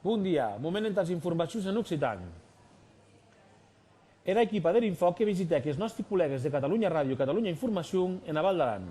Bon dia, moment entàs informacions en occitan. Era equipa der Infòc que visitèc es nòsti collègues de Catalunya Ràdio i Catalunya Informacion ena Val d'Aran.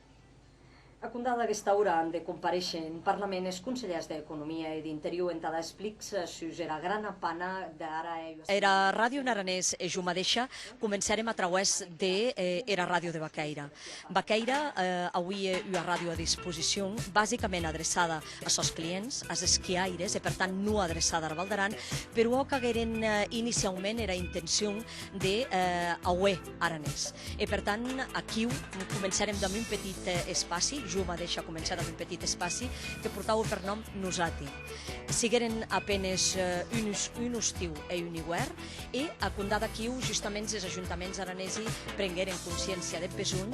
A compdar d'aguesta ora an de comparéisher en Parlament es conselhèrs d'Economia e d'Interior entada explics sus era grana pana dera Era Ràdio en aranés e jo madeisha comencèrem a trauès de era Ràdio de Baquèira. Baquèira auie ua ràdio a disposicion basicament adreçada a sos clients, as esquiaires, e per tant non adreçar dar Val d'Aran, per uò qu'agueren iniciaument era intencion de auer aranés. E per tant aquiu començarem damb un petit espaci, jo madeisha començar damb un petit espaci, que portaue per nom Nosati. Sigueren a penes uns un ostiu e un iuèrn, e a compdar d'aquiu justament es ajuntaments aranesi prengueren consciéncia deth besonh,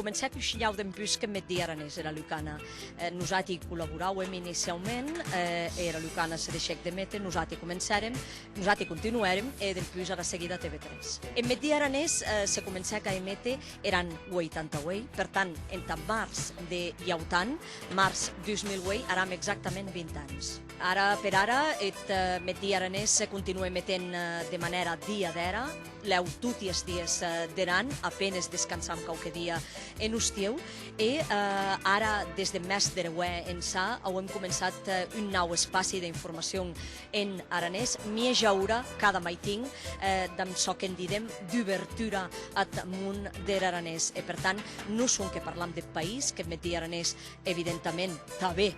comencèc un shinhau dempús que Meddi Aranés era Lucana. Eh, nosati collaboràuem iniciaument, eh, era Lucana se deixèc de mete, nosati comencèrem, nosati continuèrem e dempús ara seguida TV3. E Meddi Aranés eh, se comencèc a emete eran 88, per tant, entà març de Iautan, març 2008, aram exactament 20 ans. Ara per ara, et eh, Meddi Aranés continua emetent eh, de manèra diadèra, lèu toti es dies der an, a penes descansam quauque dia en ostieu, e ara des de mès der auè ençà auem començat un nau espaci d'informacion en aranés, mieja ora cada maitin, damb çò qu'en didem dubertura ath mon der aranés. E per tant, non sonque parlam deth país, qu'eth metier aranés evidentament tanben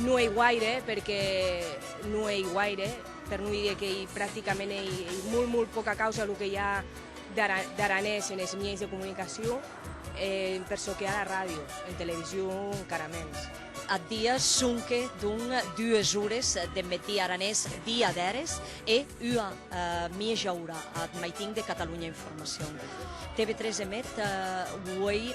No ei guaire, perque no ei guaire, per no dire qu'ei practicament ei molt molt poca causa lo que i a d'aranés en es mièis de comunicacion, e per çò que a la ràdio, en television encara mens. Ath dia sonque donc dues ores deth metí aranés dia d'eres e ua mieja ora ath maitin de Catalunya Informacion. TV3 emet uei.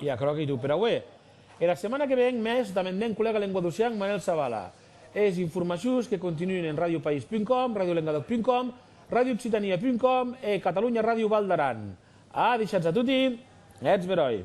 E aquerò qu'ei tot per aué. Era setmana que ven mès damb eth mèn collega lenguadocian Manel Zavala. Es informacions que continuen en radiopaís.com, radiolengadòc.com, radiooccitania.com e Catalunya Ràdio Val d'Aran. A dishans a toti e eths beròi.